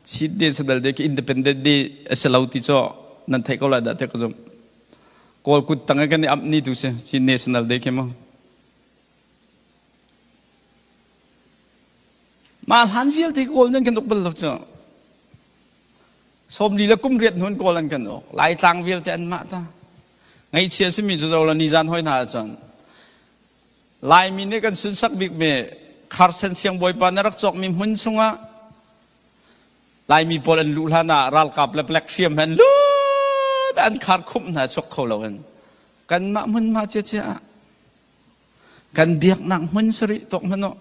Chin nih sadal de independent ni a si lo ti cu nan theih ko lai dah te ka zumh. Kawl kut tang i kan i amh ni tu si Chin National Day khi mu. Ma hlan vialte kawl nan kan uk bal lo cu. Sawmli le kum riat hnuan kawl an kan uk. Laitlang vialte an mah ta. Ngaichia simi cu zo la ni zan hoi hna cun Laimi nih kan sunsak bikmi Kharsen siangbawipa na rak cawkmi hmun chungah Laimi pawl an luh hlan ah ralkap le black hriam he an lut an khar khumh hna chuak kho lo in kanmah hmunhma cia cia ah kan biaknak hmun sarih tok hmanh uh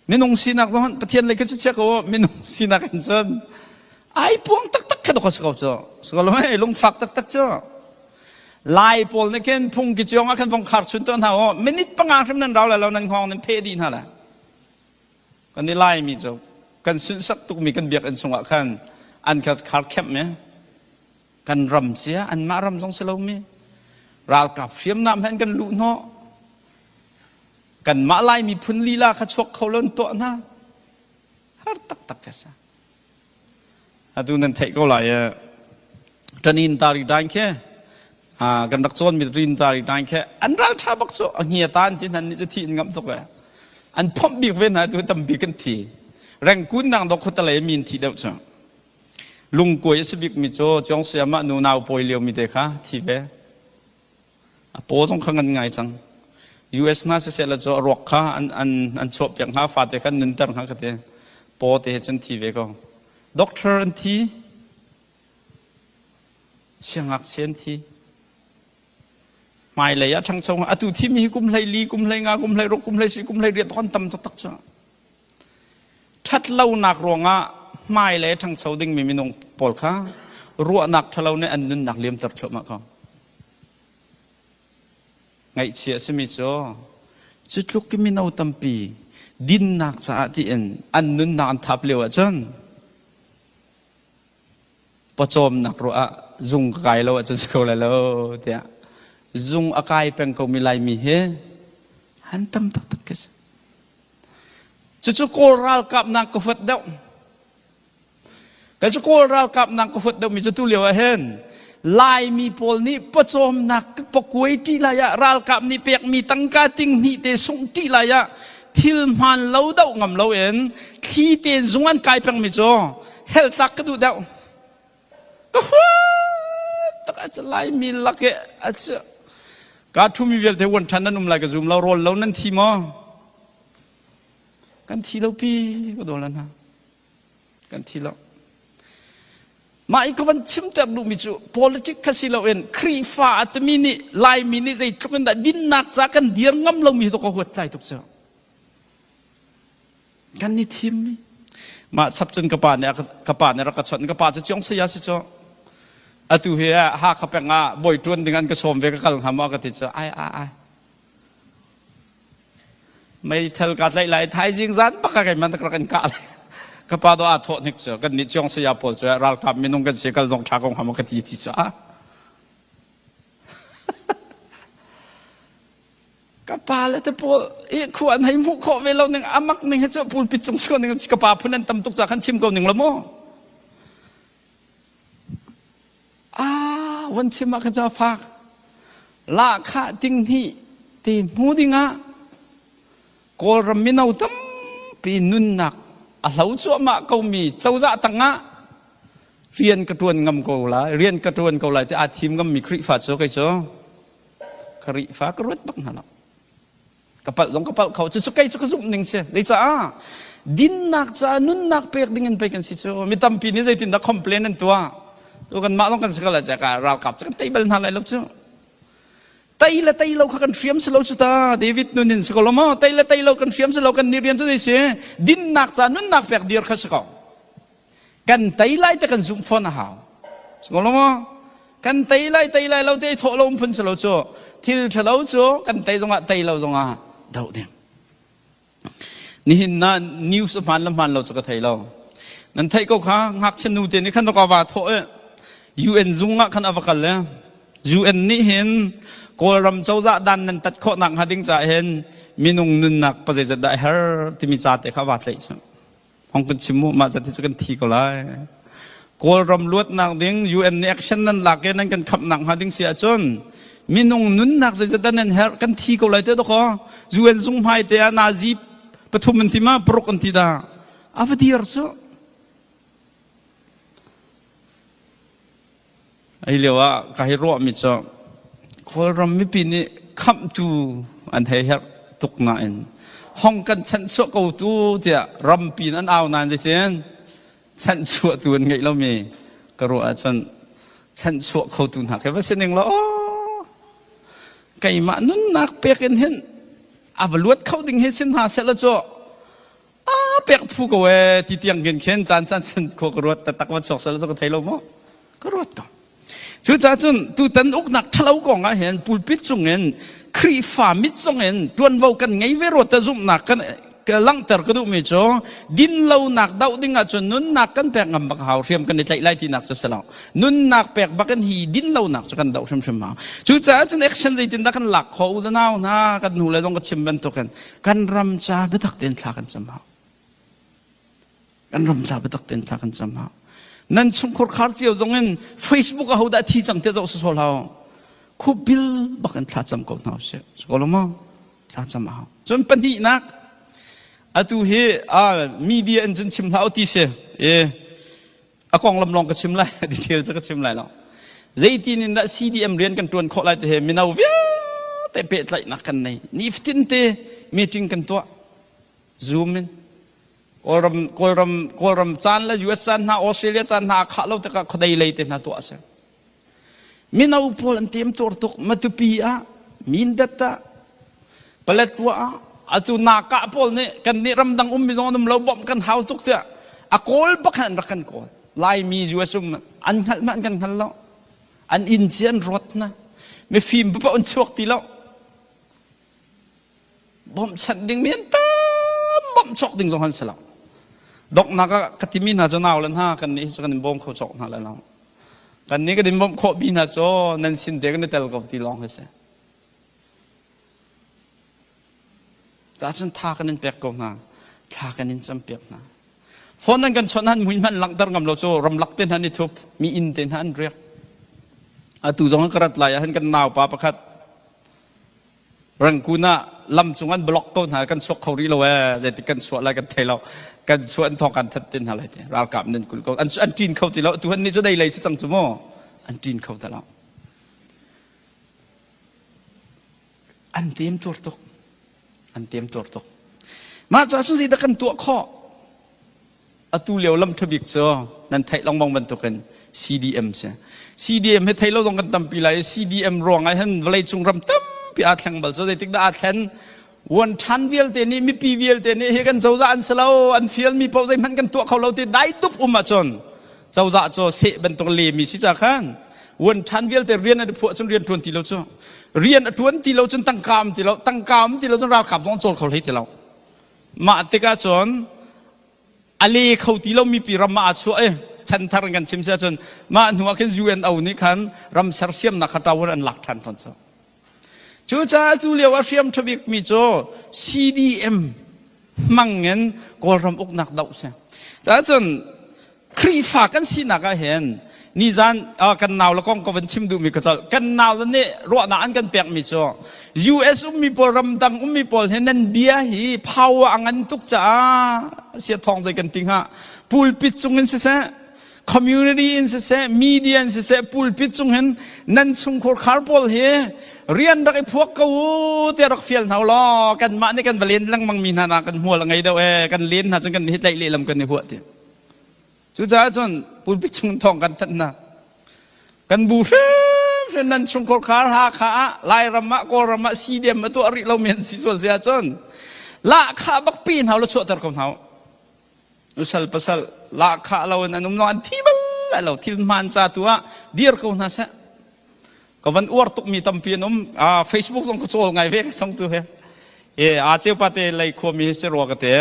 minung sinak zong han pathian lei khan cu check u minung sinak in cun ai puang taktak kha dok a si ko cu si ko lo hei lungfak taktak cu lai pawl nih khin phungki ciong ah khan vong khar chun tuan hna u minute panga hrim nan rau lai lo nan hngawng nan phe dih hna lai kan i lai mi cu kan sunsak tukmi kan biakinn chungah khan an kha khar khem me kan ram cia an mah ram zong si lo mi ralkap hriamnam hen kan luh hnawh kanmah lai miphun lila kha chuak kho lo tuah hna har taktak ka sa atu nan theih ko lai kan in tari dain khe kan rak cawn mi rin tari dain khe an ral tha bak so a hnia tan ti nan ni chu thi in ngam tuk le an phomh bik ve na tu tampi kan thi reng kun nang do khutalei min thi deuh chu lungkuai a si bik mi chu chuang siama nu nau pawi lio mi te kha thi ve a paw zong kha ngan ngai cang US hna siseh la cu a ruak kha an an an chuah piak hna fate khan nunter hna ka te paw te cun thi ve ko doctor an thi siangak sen thi hmai lei a ṭhangcho atu thim hi kum hlei li kum hlei nga kum hlei ruk kum hlei si kum hlei riat ton tam tak tak chu ṭhat lonak ruangah hmai le ṭhangcho dingmi minung pawl kha ruahnak ṭhalo nih an nunnak liamter thluahmah ko Ngaihchih a simi cu cu tluk i mino tampi dinnak caah tiin an nunnak an thap lio ahcun pawcawmnak ruah ah zung ka kai lo ahcun si kho lai lo tiah zung a kai peng komi Laimi hi an tam taktak ka si. Cucu Kawl ralkapnak ka huat deuh. Kei cu Kawl ralkap nang ka huat deuhmi cu tu lio ah hin Laimi pawl nih pawcawmnak ka pakuai ṭi lai ah ralkap nih pekmi tangka tinghnih te sungh ṭi lai ah thil hmaan lo doh ngam lo in thli tein zung an kai pengmi cu hel tlak ka duh deuh. Ka huat tak a Laimi lak i a ci ka ṭhumi vialte wan ṭhan nan um lai ka zum lo rawl lo nan thi maw? Kan thi lo pi ka dawl hna. kan thi lo mah i ka van chimter duhmi cu politic kha si loin Khrihfa a timi nih Laimi nih zeitluk in dah dinnak ca kan dir ngam lomi tu ka huat tlai tuk cu kan ni thimmi mah chap cun ka pa nih ka pa nih rak ka chawnh ka pa cu ciong saya si cu atu hi ah Hakha peng ah bawi ṭuan ding an ka sawm ve ka kal ngam a ka ti cu ai ai ai Meithal ka tlaih lai thaizing zan baka kai man rak in kah lai ka pa do a thawh hnik cu kan nih cuang saya pawl cu ralkap minung kan si kal dong tha kong hama ka ti ti cu a ka pa le te pawl i khu an hei mu kho ve lo ning amak ning he cu pulpit cung siko ning ka pa phun an tam tuk ca khan chim ko ning lo mu ah van chim ah khan ca fak lahkhah ding hnih te hmu dingah kawlram mino tampi nunnak a hlo cuahmah komi cozah tangah rian ka tuan ngam ko lai rian ka tuan ko lai ti aa thim ngammi Khrihfa cu kei cu ka Khrihfa ka ruat bak hna lo ka palh zong ka palh kho cucu kei cu ka zumh ning si lei caah dinnak caah nunnak pek ding in pei kan si cu mi tampi nih zeitindah complain an tuah tu kan mah zong kan si ko la caka ralkap cu kan tei bal hna lai lo cu tei le tei lo kha kan hriam si lo cu ta david nun in si ko lo maw tei le tei lo kan hriam si lo kan ni rian cu si dinnak caah nunnak pek dir kha si ko kan tei lai te kan zumh fawn a hau so lo maw kan tei lai tei lai lo te i thawh lo um phun si lo cu thil ṭhalo cu kan tei zongah tei lo zongah doh ding nihin na news hmaan le hmaan lo cu ka thei lo nan theih ko kha ngakchia nu te nih khan ka va thawh i UN zung ah khan a va kal le UN nih hin Kawlram cozah dan nan tat khawhnak hnga ding ca hin minung nunnak pa zeizat dah a her timi ca te kha va tlaih cu Hong kan chim mu mah zati cu kan thi ko lai. Kawlram luatnak ding UN nih action nan lak i nan kan khamh nak hnga ding si ahcun minung nunnak zeizat dan nan herh kan thi ko lai te doko UN zung hmai te ah nazi pathum an ti ma paruk an ti da a va dir cu Ai lio ah ka hei ruahmi cu Kawlram mipi nih khamhtu an hei herh tuk nain hong kan chanhchuah ko tu tiah rampi in an au nain zeitin chanhchuahtu an ngeih lomi ka ruah ahcun chanhchuah khotu hna khi va si ning law keimah nunnak pek in hin a va luat kho ding he sin hna sehlaw cu a pek phu ko e ti tiang gen khen caan caan chan kho ka ruat tak ma chok sal so ka thei lo mo ka ruat ko cu ca cun tu tan uknak thalo kong ah hin pulpit chungin khrifa mit chungin tuanvo kan ngei ve ro ta zumnak kan langter ka duh mi cu din lo nak doh ding ah cun nunnak kan pek ngam bak hau hriam kan i tlaih lai ti nak cu selo nunnak pek bak in hi din lo nak cu kan doh hrim hrim hau cu caah cun action zeitin dah kan lak kho u da nau hna kan nu le dong ka chim bantuk in Kan ram ca biatak tein thla kan cam hau. Kan ram ca biatak tein thla kan cam hau. Nan chungkhur khar cio zong in Facebook a hodah thi cang te zoh sasol hau. Khu bil bak in thla cam ko hna usih. Su ko lo ma? Thla cam hau. Cun pahnihnak, atu hi media in cun chim hlah u ti si. E, a konglam lawng ka chim lai detail cu ka chim lai lo zeitin in dah CDM rian kan ṭuan khawh lai ti he mino vialte pehtlaihnak kan nei nifatin te meeting kan tuah zoom in kawlram kawlram kawlram caan le US caan hna Australia caan hna khah lo tikah khuadei lei te hna tuah a si Mino pawl an timtur tuk Matupi ah Mindat ah Paletwa ah atu nakah pawl nih kan nih ramdang ummi zong an um lo bawmh kan hau tuk tiah a kawl bakhan rak kan kawl Laimi US um an hngalh ma an kan hngal lo an inn ci an ruat na mifim paoh an chuak ti lo bawmhchanh ding mi an tam bawmh cawk ding zong an si lo donghnak ah ka timi hna cu nau le hna kan nih cu kan in bawm kho cawk hna le lo kan nih kan in bawmh khawh mi hna cu nan sin te kan i tel ko ti lawng hi si ahcun tha kan in pek ko hna thla kan in cam piak hna phone nan kan chawnh han mui hman langhter ngam lo cu ramlak te hna ni thup mi inn te hna an riak atu zong ka rat lai ahhin kan naupa pakhat Rangkun ah lam cung an block ko hna kan chuak kho rih lo ee zeitik kan chuah lai kan thei lo kan chuah an thong kan that tin hna lai ti ralkap nan kul ko an an tin kho ti lo tu han ni cu dei lei si cang cu mu an tin kho ta lo an tem tur tuk an tem tur tuk mah ca sun si da kan tuah kho Atu lio lam ṭhabik cu nan theih lengmang bantukin CDM si. CDM he thei lo zong kan tampi lai i CDM ruangah hin vawleicung ram tampi aa thleng bal cu zeitik dah aa thlen Wanṭhan vialte nih mipi vialte nih hi kan cozah an si lo an fialmi paoh zeihmanh kan tuah kho lo ti dai dup um ahcun cozah cu seh bantuk lemi si ca khan wanṭhan vialte rian an i phuah cun rian ṭuan ti lo cu rian a ṭuan ti lo cun tangka um ti lo tangka um ti lo cun ralkap zong cawl kho hlei ti lo Mah tikah cun a le kho ti lomi pi ram ah a chuah i chanthar in kan chim si ahcun mah hnuah khin UNO nih khan ram sersiamnak kha tawar an lak ṭhan fawn cu. Cucaah cu lio ah hriam ṭha bikmi cu CDM hmang in Kawlram uknak doh si. Cahcun Khrihfa kan sinak ah hin nizan kan nau le kong ka van chim duhmi ka tlolh. Kan nau le nih ruahnak an kan pekmi cu US ummi pawl ramdang ummi pawl hi nan bia hi power a ngan tuk caah sia thawng zei kan ti hnga pulpit cung in siseh community in siseh media in siseh pulpit cung hin nan chungkhur khar pawl hi rian rak i phuak ko te rak fial hna law kanmah nih kan va len lengmang mi hna na kan hmual a ngei deuh e kan len hna cun kan hi tlaih lehlam kan i huah ti Cucaah cun pulpi chung thawng kan thanh hna. Kan bu hrimhrim nan chungkhar khar Hakha ah Lairam ah Kawlram ah CDM a tuah rih lomi an si sual si ahcun lahkhah bak pi hna ulaw chuahter ko hna u. Usal pasal lahkhah lo in an um lo an thi bal lai lo thil hmaan ca tu ah dir ko hna seh. Ka van uar tukmi tampi an um. Ah, Facebook zong ka cawl ngai ve ka song tu he. Ye, a ceu pate lei khuami si rua ka te.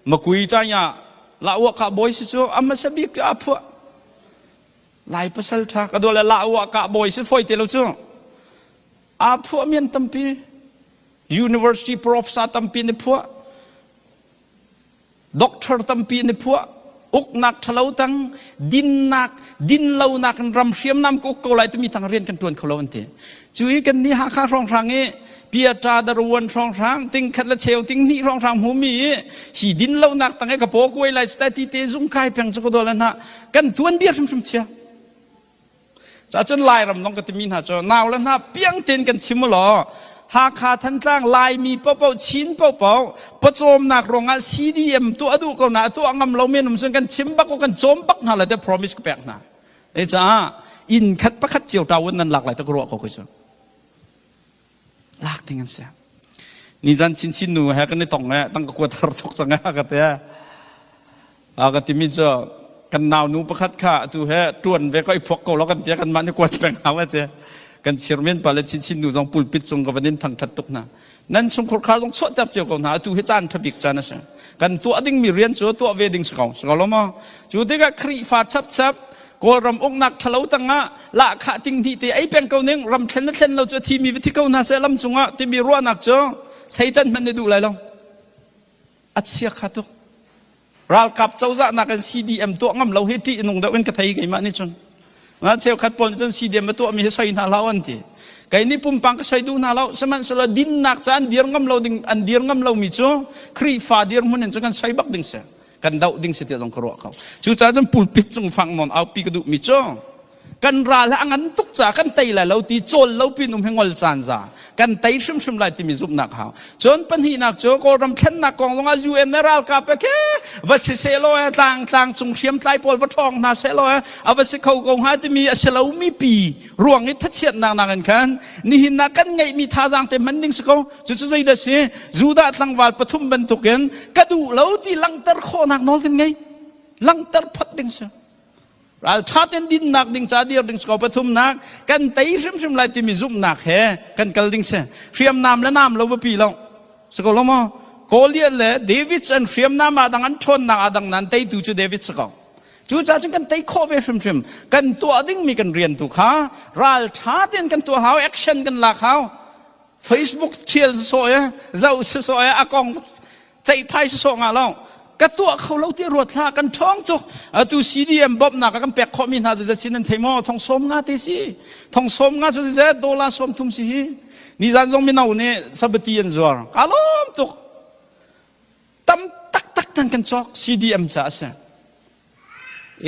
Makui tanya la uah ka bawi si cu a hmasa bik cu a phuah lai pasal tha ka dole la uah ka bawi si foi te lo cu a phuah mian tampi university profs a tampi ni phuah doctor tampi ni phuah uknak thalo tang dinnak din lonak in ram hriam nam ko ko lai tumi tang rian kan tuan kho lo an ti Cu i kan nih Hakha hrawnghrang i Piatra Daruan hrawnghrang ting khat le cheu ting hnih hrawnghrang hmumi i hi din lonak tang i ka paw kuai lai cu ta ti te zung kai peng cu ka dol hna kan tuan bia hrimhrim chia cahcun lairam long ka timi hna cu nau le hna piang tein kan chim u law Hakha Thantlang Laimi popo Chin popo pawcawmnak ruangah CDM tuah duh ko na tuah ngam lo men um cun kan chim bak ko kan cawm bak hna le te promise ka pek hna Ei caah inn khat pakhat cio ṭau in nan lak lai ta ka ruah ko kai cu. Lak ding an si. Nizan chinchin nu he kan i tong e tang ka kuatar thok cang e ka te. A ka timi cu kan nau nu pakhat kha atu he tuan ve ko i phuak ko lo kan tia kan mah ni kuat peng hau e te. Kan chir men pale chinchin nu zong pulpit cung ka van in thangṭhat tuk hna. nan chungkhur khar zong chuahter cio ko hna atu hi caan ṭha bik caan a si kan tuah dingmi rian cu tuah ve ding si ko si ko lo maw cu tikah khrihfa chapchap kawlram uknak ṭhalo tangah lahkhah tinghni te ei peng ko ning ram thlen na thlen lo cu a thimi va thi ko hna seh lam cungah timi ruahnak cu seitan hmanh na duh lai lo a chiakha tuk ralkap cozah nakin CDM tuah ngam lo hi ṭih nung deuh in ka thei keimah nih cun nga cheukhat pawl nih cun CDM a tuah mi hi soi hna hlah an ti kei nih pumpak ka soi duh hna lo sihmanhsehlaw dinnak ca an dir ngam lo ding an dir ngam lo mi cu Khrihfa dirhmun in cun kan soi bak ding si kan doh ding si tiah zong ka ruah ko cucaah cun pulpit cung fang non aupi ka duh mi cu kan ral a ngan tuk ca kan tei lai lo ti cawl lo pin um hi ngol caan za kan tei hrimhrim lai timi zumhnak hau cun pahnihnak cu kawlram thlennak kong lawngah UN le ralkap pe ke va si se law e tlang tlang cung hriam tlai pawl va ṭhawng hna se law e a va si kho ko hnga timi a si lomi pi ruang i thachiatnak nakin khan nihin na kan ngeihmi thazaang te hman ding si ko cucu zeidah si judah tlangval pathum bantukin ka duh lo ti langhter khawhnak nawl kan ngei langhter phot ding si ralṭha ten dinnak ding ca dir ding siko pathumnak kan tei hrimhrim lai timi zumhnak he kan kal ding si hriamnam le nam lo biapi lo siko lo maw Goliath le David an hriamnam ah dang an ṭhawnnak ah dang nan teitu cu David siko cucaah cun kan tei khawh ve hrimhrim kan tuah dingmi kan rian tu kha ralṭha ten kan tuah hau action kan lak hau Facebook thial sasawh i zoh sasawh i a kong ceihphai sasawh nga lo ka tuah kho lo ti ruat hla kan ṭhawng tuk atu CDM bawmhnak kan pek khawhmi hna zeizat sin an thei maw thong sawm nga te si thong sawm nga cu zeizat dollar sawm thum si hi nizan zong mino nih sabati an zuar ka lawm tuk tam tak tak tan kan cawk CDM ca a si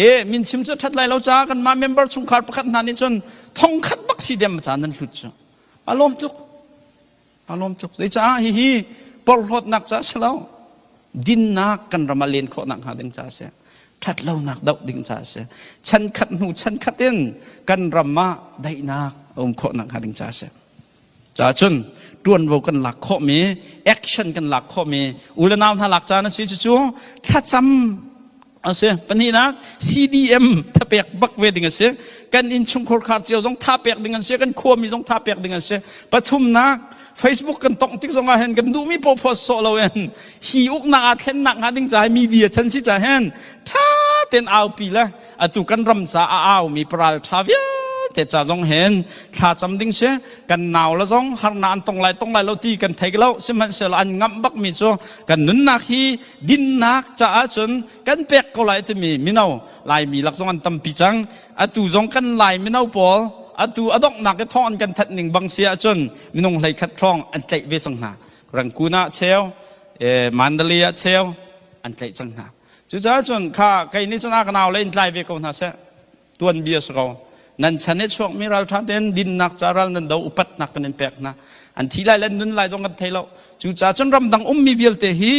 e min chim cu ṭhat lai lo ca kan mah member chungkhar pakhat hna nih cun thong khat bak CDM ca nan hlut cu A lawm tuk. A lawm tuk. Zeicah hihi porhlawtnak ca si lo, dinnak kan ram ah len khawhnak hnga ding ca a si. Ṭhatlonak doh ding ca a si. Chan khat hnu chan khat in kan ram ah daihnak a um khawhnak hnga ding ca a si. Caahcun ṭuanvo kan lak khawhmi, action kan lak khawhmi, u le nau hna lak caan a si cucu thlacam asi pahnihnak CDM thapek bak ve ding asi kan innchungkhar khar cio zong thapek ding an si kan khuami zong thapek ding an si pathumnak Facebook kan tong tik zong ah hen kan duhmi paw phos so lo hen hi uknak a thlennak hnga ding cah media chan si cah hen tha ten aupi le atu kan ram ca a au mi paral tha vial te cha zong hen thla cham ding se kan naw la zong har na an tong lai tong lai lo ti kan thei lo sihmanhsehlaw an ngam bak mi cu kan nunnak hi dinnak caah cun kan pek ko lai timi mino laimi lak zong an tampi cang atu zong kan lai mino pawl atu a donghnak i thawng an kan that ning bang si ahcun minung hlei khat hrawng an tlaih ve cang hna rangkun ah cheu mandali ah cheu an tlaih cang hna cucaah cun kha kei nih cun a ka nau le in tlai ve ko hna seh tuanbia si ko nan chan i chuakmi ralṭha tein dinnak ca ral nan do upatnak kan in pek hna an thi lai le nun lai zong kan thei lo cucaah cun ramdang ummi vialte hi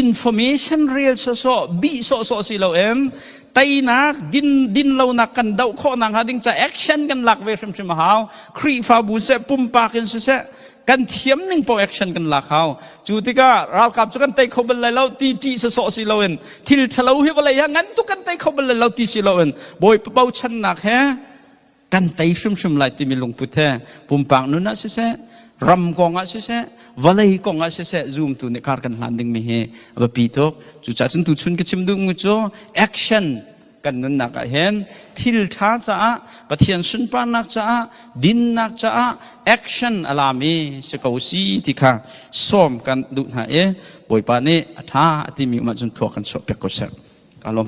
information rel sawsawh bih sawhsawh si loin teinak din dinlonak kan doh khawh nakhnga ding ca action kan lak ve hrimhrim a hau khrihfabu seh pumpak in siseh kan thiam ning paoh action kan lak hau cu tikah ralkap cu kan tei kho bal lai lo ti ṭih sawsawh si loin thil ṭhalo hi vawlei hi ngan cu kan tei kho bal lai lo ti si loin bawipa bochannak he kan tei hrimhrim lai timi lungput he pumpak nun ah siseh ram kong ah siseh vawlei kong ah siseh zumtu nih kar kan hlan dingmi hi a biapi tuk cucahcun tuchun ka chim duhmi cu action Kan nunnak ah hin thil ṭha caah, Pathian sunparnak caah, dinnak caah action a laam i si ko si ti kha sawm kan duh hna i Bawipa nih a ṭha a timi um ahcun thluak kan chuahpiak ko seh. Ka lawm